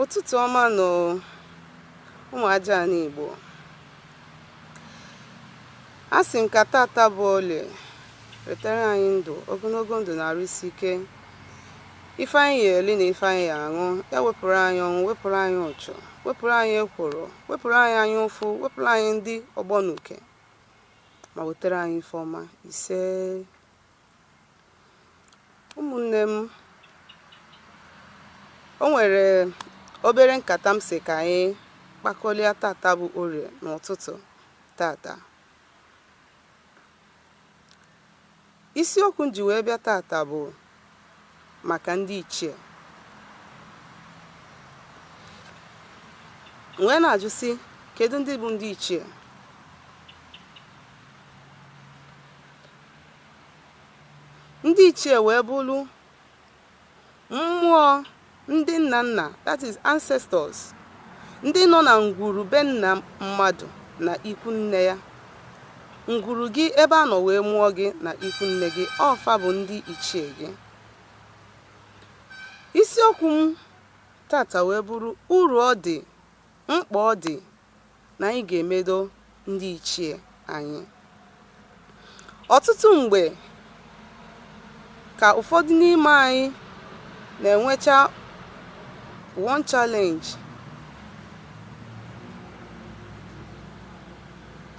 Ụtụtụ ọma nụ ụmụ aja ana Igbo. A sị m ka tata bụ olie wetara anyị ndụ ogonogo ndụ na arụ isi ike ife anyị ya eli na ife anyị ya aṅụ ya wepụrụ anyị ọnwụ wepụrụ anyị ụchụ wepụrụ anyị ekworo wepụrụ anyị anya ụfụ wepụrụ anyị ndị ọgbọ na uke ma wetara anyị ife ọma isee ụmụnne m o nwere obere nkata m sị ka anyị kpakọlịa tata bụ orie n'ụtụtụ tata isiokwu m ji wee bịa tata bụ maka ndị ichie wee na-ajụ sị kedu ndị bụ ndị ichie ndị ichie wee bụrụ mmụọ ndị nna nna that is ancestors ndị nọ na ngwuru be nna mmadụ na ikwu nne ya ngwuru gị ebe a nọ wee mụọ gị na ikwu nne gị ọ fa bụ ndị ichie gị isiokwu m tata wee bụrụ uru ọ dị mkpa ọ dị na anyị ga-emedo ndị ichie anyị. Ọtụtụ mgbe ka ụfọdụ n'ime anyị na-enwecha one challenge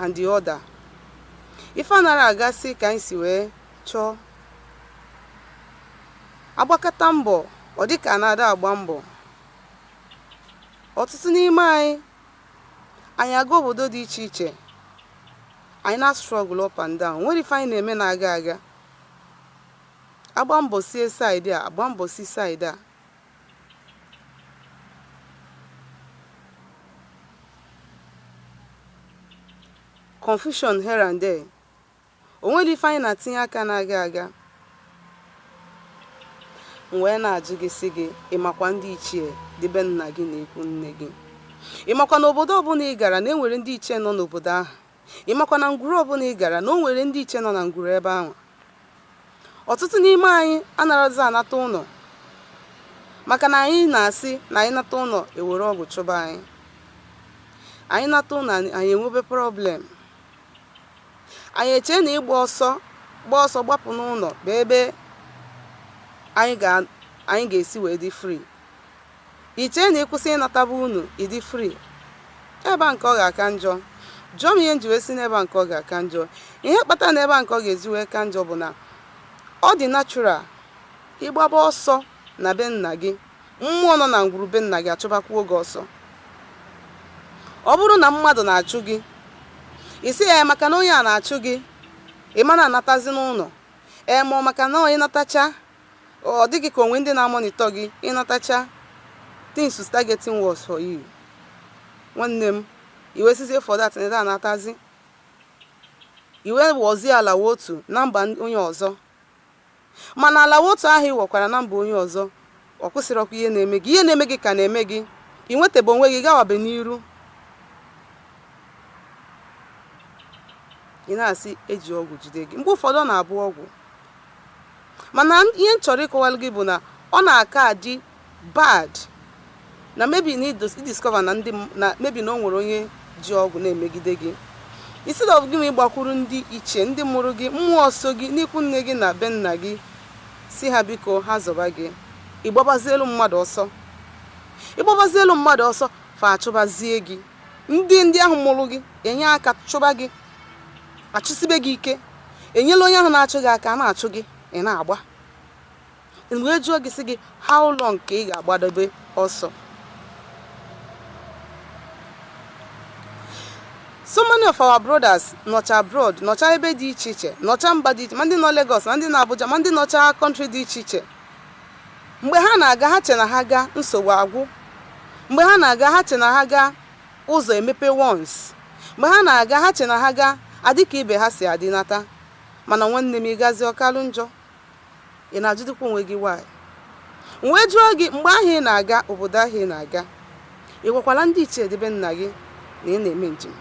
and the other. Ife anarọ agasị ka anyị si wee chọọ. A gbakata mbọ, ọ dị ka na ada agba mbọ. ọtụtụ n'ime anyị anyị aga obodo dị iche iche anyị na-struggle up and down nwere ife anyị na-eme na-aga aga agba mbọ sie side a agba mbọ si side a confusion here and there O nwere ife anyị na-atinye aka na-aga aga? M wee na-ajụ gị sị gị, ị makwa ndị ichie dị be nna gị na ikwu nne gị? Ị makwa na obodo ọbụna ị gara na e nwere ndị ichie nọ n'obodo ahụ? Ị makwa na ngwuru ọbụna ị gara na o nwere ndị ichie nọ na ngwuru ebe anwa? Ọtụtụ n'ime anyị anarọzi anata ụnọ maka na anyị na-asị na anyị nata ụnọ e were ọgwụ chụba anyị. Anyị nata ụnọ anyị enwebe problem. anyị echee na ịgba ọsọ gba ọsọ gbapụ n'ụnọ bụ ebe anyị ga-esi wee dị free i chee na ị kwụsị ịnataba ụnọ ị dị free ebe a nke ọ ga-aka njọ jụọ m ihe m ji wee sị na ebe a nke ọ ga-aka njọ ihe kpatara na ebe a nke ọ ga-eji wee ka njọ bụ na ọ dị natural ịgbaba ọsọ na be nna gị Mmụọ nọ na ngwuru be nna gị achụbakwuo gị ọsọ. Ọ bụrụ na mmadụ na-achụ gị, ị sị ya ee maka na onye a na-achụ gị, ị ma na-anatazi n'ụlọ. Ee ma ọ maka na ị natacha, ọ dị gị ka o nwe ndị na-amonitọ gị ị natacha things to start getting worse for you. Nwanne m, i wee sịzie for that na ị da anatazi. I wee wọzie ala wụ otu na mba onye ọzọ. Mana ala wụ otu ahụ ị wọkwara na mba onye ọzọ, ọ kwụsịrọkwa ihe na-eme gị. Ihe na-eme gị ka na-eme gị. I nwetebe onwe gị gawabe n'iru. Ị na-asị e ji ọgwụ jide gị. Mgbe ụfọdụ ọ na-abụ ọgwụ. Mana ihe m chọrọ ịkọwalụ gị bụ na ọ na-aka adị bad na maybe na i discover na ndị m- na maybe na o nwere onye ji ọgwụ na-emegide gị instead of gị ma ịgbakwuru ndị ichie ndị mụrụ gị mmụọ so gị n'ikwu nne gị na be nna gị sị ha biko ha zọba gị ị gbabazielụ mmadụ ọsọ ị gbabazielụ mmadụ ọsọ fa achụbazie gị ndị ndị ahụ mụrụ gị enye aka chụba gị achụsibe gị ike enyela onye ahụ na-achụ gị aka a na-achụ gị ị na-agba m wee jụọ gị sị gị how long ka ị ga-agbadobe ọsọ so many of our brothers nọcha abroad nọcha ebe dị iche iche nọcha mba dị iche ma ndị nọ Lagos ma ndị nọ Abuja ma ndị nọcha country dị iche iche mgbe ha na-aga ha che na ha gaa nsogbu agwụ mgbe ha na-aga ha che na ha gaa ụzọ emepe once mgbe ha na-aga ha che na ha gaa adị ka ibe ha si adị nata mana nwanne m ị gazie ọ kalụ njọ ị na-ajụdịkwa onwe gị why m wee jụọ gị mgbe ahụ ị na-aga obodo ahụ ị na-aga ị gwakwala ndị ichie dị be nna gị na ị na-eme njem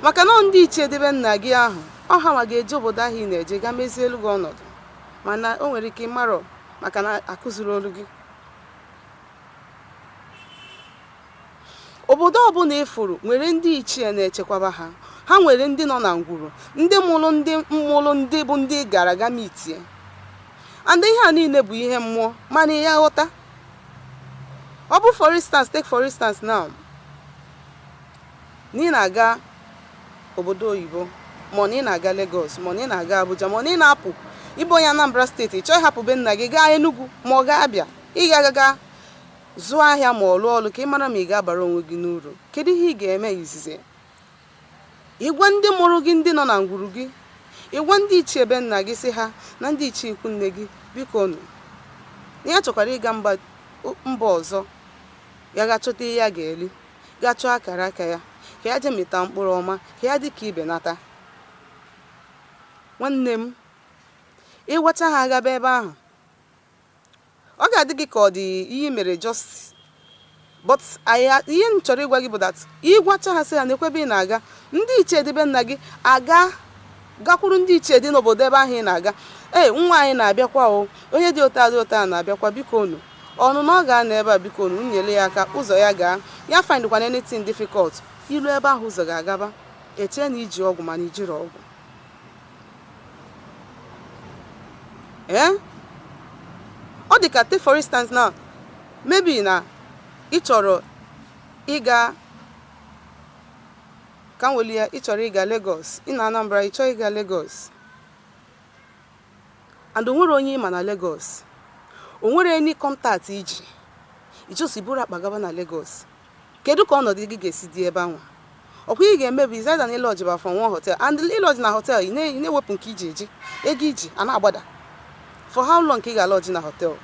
maka na ndị ichie dị be nna gị ahụ ọ ha ma ga-eje obodo ahụ ị na-eje ga mezielu gị ọnọdụ mana o nwere ike ị marọ maka na akụzirọlụ gị Obodo ọbụla ị fụrụ nwere ndị ichie na-echekwaba ha. Ha nwere ndị nọ na ngwuru, ndị mụrụ ndị mụrụ ndị bụ ndị ị gara ga mitie. And ihe a niile bụ ihe mmụọ mana ị ya-aghọta. Ọ bụ for instance, take for instance now, na ị na-aga obodo oyibo ma ọ na ị na-aga Lagos ma ọ na ị na-aga Abuja ma ọ na ị na-apụ ị bụ onye Anambra steeti ị chọọ ịhapụ be nna gị gaa Enugu ma ọ gaa Abịa ị ga-agaga Zụọ ahịa ma ọ lụọ ọlụ ka ị mara ma ị ga-abara onwe gị n'uru. Kedu ihe ị ga-eme izizi? Ị gwa ndị mụrụ gị ndị nọ na ngwuru gị, ị gwa ndị ichie ebe nna gị sị ha na ndị ichie ikwu nne gị, biko nụ. Ya chọkwara ịga mba ọzọ, ya gaa chọta ihe ya ga-eli, gaa chọọ akara aka ya, ka ya jee mịta mkpụrụ ọma, ka ya dị ka ibe nata. Nwanne m, ị gwachaa ha agaba ebe ahụ, Ọ ga-adị gị ka ọ dị ihe i mere just but ihe m chọrọ ịgwa gị bụ that ị gwachaa ha sị ha nekwa ebe ị na-aga ndị ichie dị be nna gị agaa gakwuru ndị ichie dị n'obodo ebe ahụ ị na-aga ee nwa anyị na-abịakwa o onye dị otu a dị otu a na-abịakwa biko unu ọnụnọ ọ ga-anọ ebe a biko unu nyere ya aka ụzọ ya gaa ya findkwana anything difficult i luo ebe ahụ ụzọ gị agaba e chee na i ji ọgwụ mana i jirọ ọgwụ ee ọ dị ka take for instance now maybe na ị chọrọ ịga ka m weli ya ị chọrọ ịga Lagos ị nọ Anambra ị chọọ ịga Lagos and o nwerọ onye ị ma na Lagos o nwerọ any contact i ji ị just buru akpa gaba na Lagos Kedụ ka ọnọdụ gị ga-esi dị ebe anwa? Ọ kwa ihe ị ga-eme bụ is either na ị lodge ba for one hotel and ị lodge na hotel ị na-ewepụ nke i ji eji, ego i ji a na-agbada. For how long ka ị ga-alodge na hotel?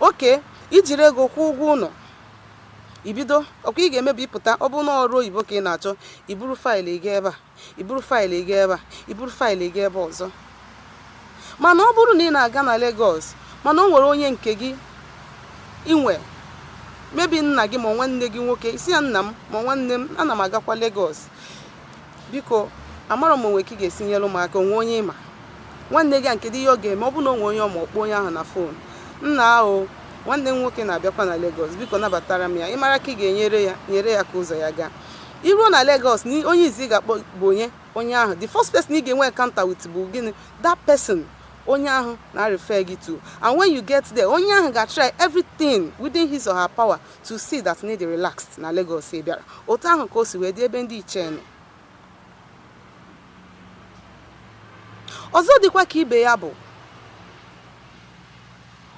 Okay, i jiri ego kwụọ ụgwọ ụnọ, i bido ọ kwa ihe ị ga-eme bụ ịpụta ọ bụrụ na ọrụ oyibo ka ị na-achọ, i buru faịlụ ị gaa ebe a. i buru faịlụ ị gaa ebe a i buru faịlụ ị gaa ebe ọzọ mana ọ bụrụ na ị na-aga na Lagos mana o nwere onye nke gị i nwe maybe nna gị ma nwanne gị nwoke ị sị ya nna m ma nwanne m ana m agakwa Lagos biko amarọ m o nwe ka ị ga-esi nyere m aka o nwe onye ị ma nwanne gị a kedụ ihe ọ ga-eme ọ bụrụ na o nwe onye ọ ma ọ kpọọ onye ahụ na fon nnaa nwanne m nwoke na-abịakwa na Lagos biko nabatara m ya ị mara aka ị ga-enyere ya nyere ya ka ụzọ ya gaa I ruo na Lagos, onye izi ị ga-akpọ bụ onye? Onye ahụ. The first person ị ga-enwe encounter with bụ gịnị? That person. Onye ahụ na-arefer gị to. And when you get there, onye ahụ ga-atry everything within his or her power to see that na ị dị relaxed na Lagos ị bịara. Otu ahụ ka o si wee dị ebe ndị ichie nọ. Ọzọ dịkwa ka ibe ya bụ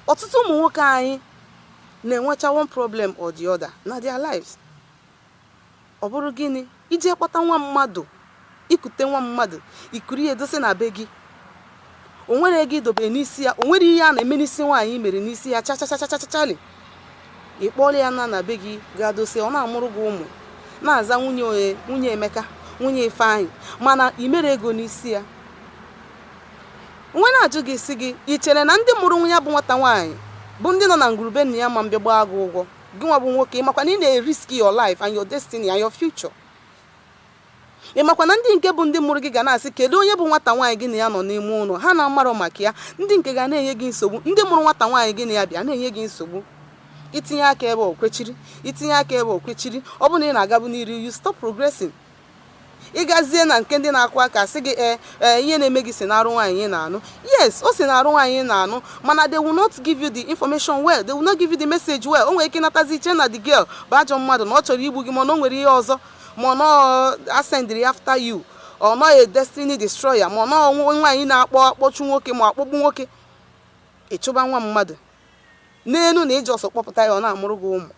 ọtụtụ ụmụ nwoke anyị na-enwecha one problem or the other na their lives. Ọ bụrụ gịnị? I jee kpọta nwa mmadụ, i kute nwa mmadụ, i kuru ya dosa na be gị. O nwerọ ego i dobere n'isi ya, o nwerọ ihe a na-eme n'isi nwaanyị i mere n'isi ya chachachachachachali. Ị kpọrọ ya naa na be gị gaa dosa ya, ọ na-amụrụ gị ụmụ, na-aza nwunye onye, nwunye Emeka, nwunye Ifeanyị, mana i merọ ego n'isi ya. M wee na-ajụ gị sị gị, i chere na ndị mụrụ nwa ya bụ nwata nwaanyị bụ ndị nọ na ngwuru be nna ya ama mbịa gbaa gị ụgwọ? gị nwa bụ nwoke ịmakwa na ị na-erisk your life and your destiny and your future ịmakwa na ndị nke bụ ndị mụrụ gị ga na-asị kedu onye bụ nwata nwaanyị gị na ya nọ n'ime ụlọ ha na-amarọ maka ya ndị nke ga na-enye gị nsogbu ndị mụrụ nwata nwaanyị gị na ya bi a na-enye gị nsogbu i tinye aka ebe o kwechiri i tinye aka ebe o kwechiri ọ bụ na ị na-agabu n'iru you stop progressing ị gazie na nke ndị na-akụ aka sị gị ee eh, ee eh, ihe na-eme gị si n'arụ nwaanyị ị na-anụ yes o si n'arụ nwaanyị ị na-anụ mana they will not give you the information well they will not give you the message well o nwere ike natazie i chee na the girl bụ ajọ mmadụ na ọ chọrọ igbu gị mana o nwere ihe ọzọ ma ọ nọ asendịrị after you ọ nọghị destiny destroyer ma ọ nọ nwaanyị na-akpọ akpọchu nwoke ma akpọgbu nwoke ị chụba nwa mmadụ n'elu na i ji ọsọ kpọpụta ya ọ na-amụrụ gị ụmụ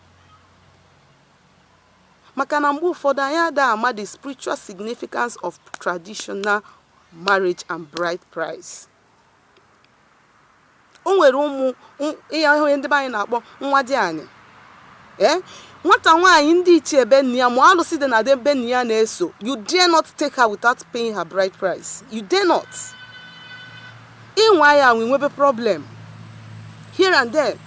Maka na mgbe ụfọdụ anyị ada ama the spiritual significance of traditional marriage and bride price. O nwere ụmụ ihe ndị be anyị na-akpọ nwadịanị ee eh? nwata nwaanyị ndị ichie be nne ya ma alụsị dị na be nne ya na-eso you dare not take her without paying her bride price you dare not ị nwaa ya anwa nwebe problem here and there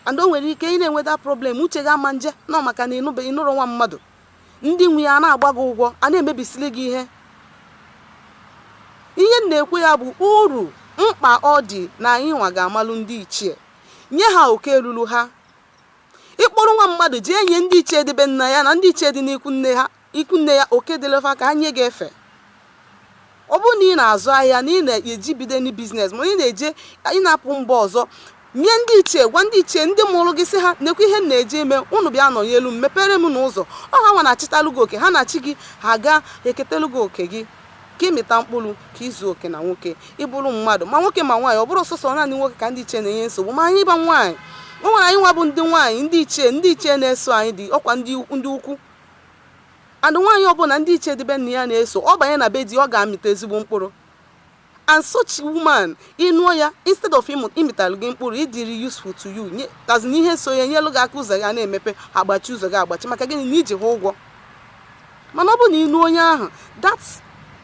and o nwere ike ị na-enwe that problem uche gị ama nje na ọ maka na ị nụbe ị nụrụ nwa mmadụ ndị nwe ya na-agba gị ụgwọ a na-emebisili gị ihe ihe m na-ekwu ya bụ uru mkpa ọ dị na anyị nwa ga-amalụ ndị ichie nye ha oke ruru ha ị kpọrọ nwa mmadụ jee nye ndị ichie dị be nna ya na ndị ichie dị n'ikwu nne ha Ikwunne ya, Oke dịrị fa ka ha nye gị efe. Ọ bụrụ na ị na-azụ ahịa na ị na-eje ibido any business ma ị na-eje ị na-apụ mba ọzọ, nye ndị ichie, gwa ndị ichie ndị mụrụ gị sị ha nekwa ihe m na-eje ime, unu bịa nọnyelu m, mepere m nụ ụzọ. Ọ ha nwa na-achịtalụ gị oke, ha na chi gị ha ga-eketelu gị oke gị. Ka ị mịta mkpụrụ, ka i zuo oke na nwoke, ị bụrụ mmadụ, ma nwoke ma nwaanyị, ọ bụrọ sọsọ naanị nwoke ka ndị ichie na-enye nsogbu, ma anyị bụ nwaanyị. O nwere anyị nwa bụ ndị nwaanyị, ndị ichie, ndị ichie na-eso anyị dị, ọkwa ndị ukwu. And nwaanyị ọbụla ndị ichie dị be nna ya na-eso, ọ banye na be di, ọ ga-amịta ezigbo mkpụrụ. And such woman, ị nụọ ya, instead of ịmịtalụ gị mkpụrụ, ịdịrị useful to you, as in ihe so ya nyelụ gị aka ụzọ gị a na-emepe, agbachi ụzọ gị agbachi, maka gịnị na i ji ha ụgwọ. Mana ọ bụrụ na ị nụọ onye ahụ, that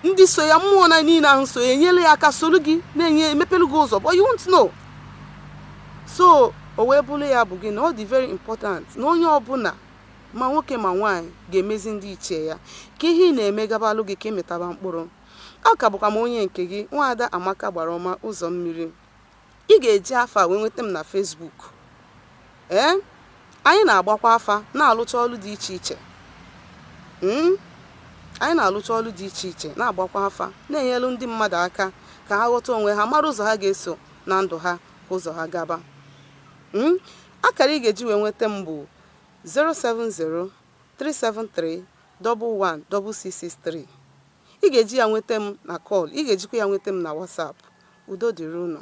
ndị so ya mmụọ na niile ahụ so ya enyere ya aka soro gị na-enye emepelu gị ụzọ, but you won't know. So o wee bụrụ ya bụ gị na ọ dị very important na onye ọbụla ma nwoke ma nwaanyị, ga-emezi ndị ichie ya. Ka ihe ị na-eme gabalụ gị ka ị mịtaba mkpụrụ. Ọ ka bụkwa m onye nke gị, Nwaada Amaka Gbaraọma Ụzọmmiri. Ị ga-eji afa a wee nweta m na Facebook. Ee, anyị na-agbakwa afa, na-alụcha ọlụ dị iche iche. Mm? anyị na-alụcha ọlụ dị iche iche na-agbakwa afa na-enyelu ndị mmadụ aka ka ha ghọta onwe ha mara ụzọ ha ga-eso na ndụ ha ka ụzọ ha gaba Mm? akara ị ga-eji wee nweta m bụ 070-373-11663 Ị ga-eji ya nweta m na kọl, ị ga-ejikwa ya nweta m na Whatsapp. Udo dịrị unu.